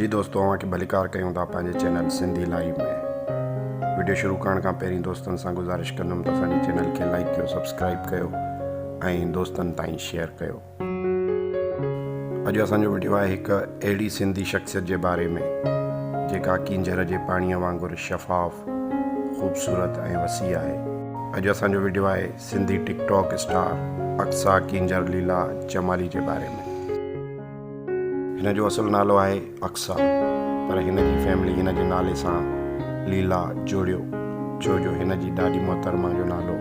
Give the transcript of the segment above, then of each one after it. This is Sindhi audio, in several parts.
جي دوستو اوهان کي ڀليڪار ڪيون ٿا پنهنجي چينل سنڌي لائيو ۾ وڊيو شروع ڪرڻ کان پهرين دوستن سان گذارش ڪندم ته اسان جي چينل کي لائيڪ ڪيو سبسڪرائيب ڪيو ۽ دوستن تائين شيئر ڪيو اڄ اسان جو وڊيو آهي هڪ اهڙي سنڌي شخصيت جي باري ۾ جيڪا ڪينجهر جي پاڻي وانگر شفاف خوبصورت ۽ وسيع آهي اڄ اسان جو وڊيو آهي Sindhi TikTok star Aqsa Kenjhar Leela Jamali جي باري ۾ هن جو اصل نالو آهي اقصيٰ پر هن جي فيملي هن جي نالي سان ليلا جوڙيو ڇو جو هن جي ڏاڏي محترمه جو نالو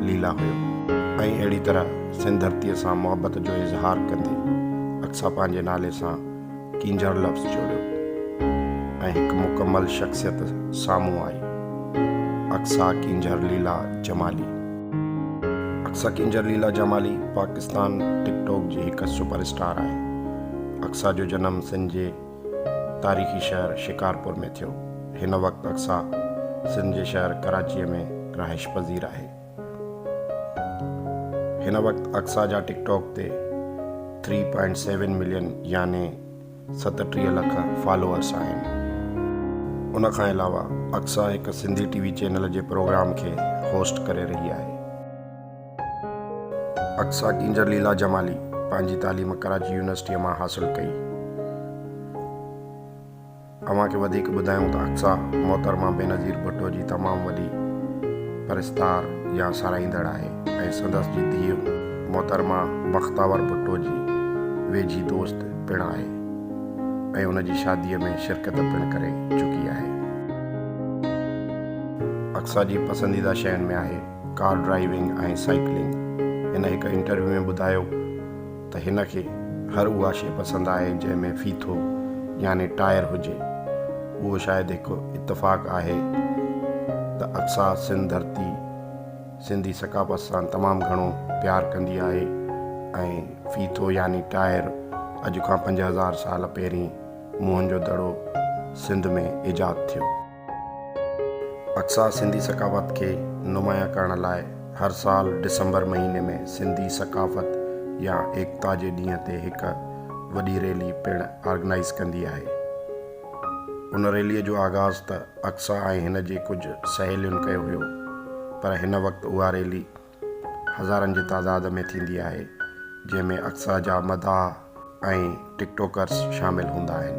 ليلا هيو ۽ اهڙي طرح سنڌ ڌرتيء سان محبت جو اظهار ڪندي اقصيٰ پنهنجي نالي سان ڪينجهر لفظ جوڙيو ۽ هڪ مڪمل شخصيت سامهون آئي، اقصيٰ ڪينجهر ليلا جمالي. اقصيٰ ڪينجهر ليلا جمالي پاڪستان ٽڪ ٽاڪ جي هڪ سپر اسٽار آهي. اقصيٰ جو جنم سنڌ جي تاريخي شهر شڪارپور ۾ ٿيو. هن وقت اقصيٰ سنڌ جي شهر ڪراچيء ۾ رهائش پذير آهي. هن وقت اقصيٰ جا ٽڪ ٽاڪ تي ٿري پوائنٽ سيون ملين يعني ستٽيهه لک فالوئرس آهن. ان کان علاوه اقصيٰ هڪ سنڌي ٽي وي چينل جي پروگرام کي هوسٽ ڪري رهي آهي. اقصيٰ ڪينجهر ليلا جمالي پنهنجي تعليم ڪراچي يونيورسٽيء مان حاصل ڪئي. اوهان کي وڌيڪ ٻڌايون ته اقصيٰ محترمه بينظير ڀٽو جي تمام وڏي پرستار يا ساراهيندڙ آهي ۽ سندس جي ڌيء محترمه بختاور ڀٽو جي ويجهي دوست پڻ آهي ۽ ان جي شاديء ۾ شرڪت پڻ ڪري چڪي آهي. اقصيٰ جي پسنديده شين ۾ آهي ڪار ڊرائيونگ ۽ سائيڪلنگ. هن هڪ انٽرويو ۾ ٻڌايو ته هن کي هر اها شيء پسند آهي جنهن ۾ ڦيٿو يعني ٽائر هجي. اهو شايد هڪ اتفاق آهي ته اقصيٰ سنڌ ڌرتي سنڌي ثقافت سان تمام گهڻو پيار ڪندي آهي ۽ ڦيٿو يعني ٽائر اڄ کان پنج هزار سال پهرين موهن جو دڙو سنڌ ۾ ايجاد ٿيو. اقصيٰ سنڌي ثقافت کي نمايان ڪرڻ لاء هر سال ڊسمبر مهيني ۾ سنڌي ثقافت يا ايڪتا جي ڏينهن تي هڪ وڏي ريلي پڻ آرگنائيز ڪندي آهي. ان ريليء جو آغاز ته اقصيٰ ۽ هن جي ڪجهه سهيلين ڪيو هيو پر هن وقت اها ريلي هزارن جي تعداد ۾ ٿيندي آهي جنهن ۾ اڪثر جا مداح ۽ ٽڪ ٽوڪرز شامل هوندا آهن.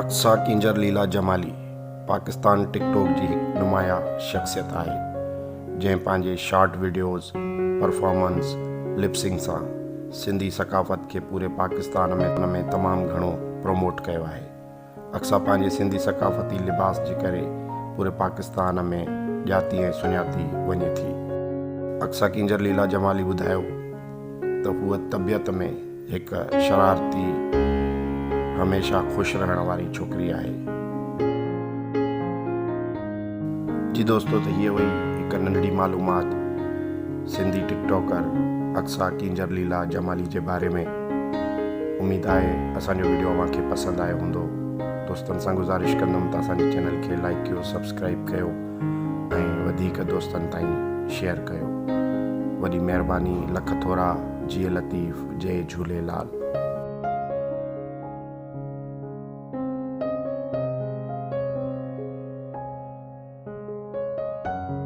اقصيٰ ڪينجهر ليلا جمالي پاڪستان ٽڪ ٽوڪ جي هڪ نمايا شخصيت آهي جنهن پنهنجي short videos, performance, lip sync سان سنڌي ثقافت کي پوري پاڪستان ۾ تمام گهڻو پروموٽ ڪيو آهي. اقصيٰ پنهنجي سنڌي ثقافتي لباس جي ڪري پوري پاڪستان ۾ ڄاتي ۽ سڃاتي وڃي ٿي. اقصيٰ ڪينجهر ليلا جمالي ٻڌايو ته هوء طبيعت ۾ هڪ شرارتي هميشه خوش رهڻ واري ڇوڪري آهي. جي دوستو ته هيء هئي هڪ ننڍڙي معلومات سنڌي ٽڪ ٽاڪر اقصيٰ ڪينجهر ليلا جمالي جي باري ۾. اميد آهي اسان جو ويڊيو اوهان کي پسند آيو هوندو دوستن سان گذارش ڪندم ته اسان جي چينل کي لائيڪ ڪيو سبسڪرائيب ڪيو ۽ وڌيڪ دوستن تائين شيئر ڪيو وڏي مهرباني لک ٿورا جيئي لطيف جئي جهوليلال.